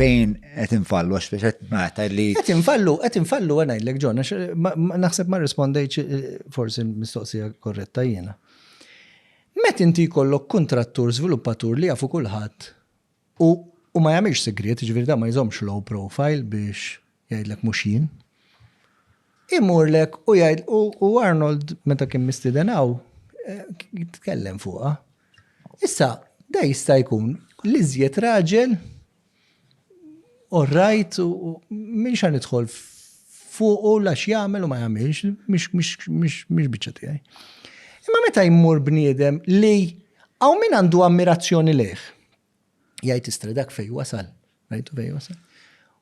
Fejn qed infallu għax biex qed nagħta li. Qed infallu, qed infallu għana jillek ġon, naħseb ma rispondejċ eh, forsi mistoqsija korretta jiena. Met inti jkollok kontrattur, sviluppatur li jafu kulħadd u ma jagħmilx segret, ġifieri da ma jżomx low profile biex Jgħidlek mhux jien. Imurlek u jgħid u Arnold meta kien mistieden hawn jitkellem fuqha. Issa, da jista' jkun li żjed raġel u rajt u minn xa nidħol fuq u lax jagħmel u ma jagħmilx, mhix biċċa tiegħi. Imma meta jmur bniedem li hawn min għandu ammirazzjoni lejh, Jgħid istra dak fej wasal. Rajtu fej wasal.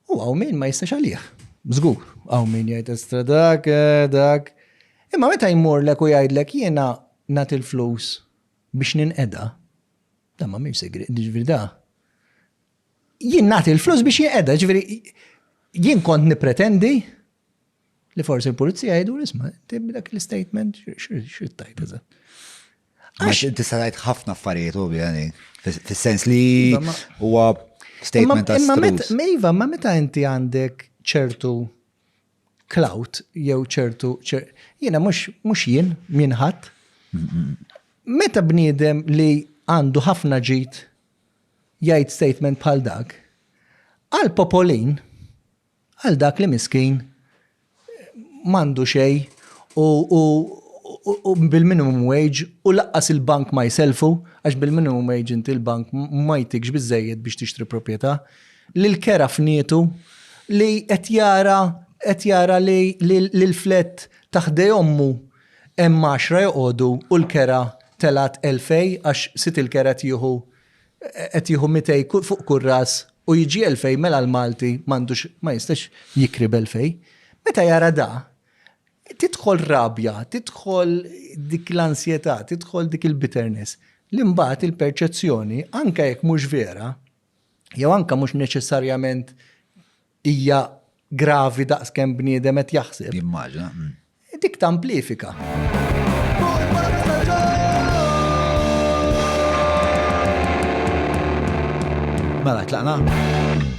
U għaw min ma jistax għalih. Zgur, għaw min jgħid istra dak, eh, dak. Imma meta jmurlek u jgħidlek jiena nat il-flus biex ninqeda, da ma minn segri, ġviri da. Jien nat il-flus biex jinqeda, ġviri jien kont nipretendi Li forsi l-pulizija jgħidu l-isma, inti b'dak l-istatement x'rid tajt eżatt. Għax inti sajt ħafna affarijiet u bjani, fis-sens li iva, huwa statement ta' Imma iva, ma meta inti għandek ċertu clout jew ċertu jiena mhux mhux jien min ħadd. Meta bniedem li għandu ħafna ġid jgħid statement bħal dak, għal popolin Għal dak li miskin m'għandu xejn u u bil-minimum wage u lanqas il-bank ma jsellfu għax bil-minimum wage inti l-bank ma jtikx biżżejjed biex tixtri proprjetà. Lil kera fnietu li qed jara qed jara li li l-flat ta' ħdej ommu hemm għaxra joqogħdu u l-kera telgħet elfej għax sid il-kera tieħu qed jieħu mitej fuq kull ras u jiġi elfej mela l-Malti m'għandux ma jistax jikri b'elfej. Meta jara da, tidħol rabja, tidħol dik l-ansjetà, tidħol dik il-bitterness li mbagħad il-perċezzjoni anke jekk mhux vera jew anke mhux neċessarjament hija gravi daqs kemm bniedem qed jaħseb. Jimmaġina. Dik tamplifika. Mela, tlaqna?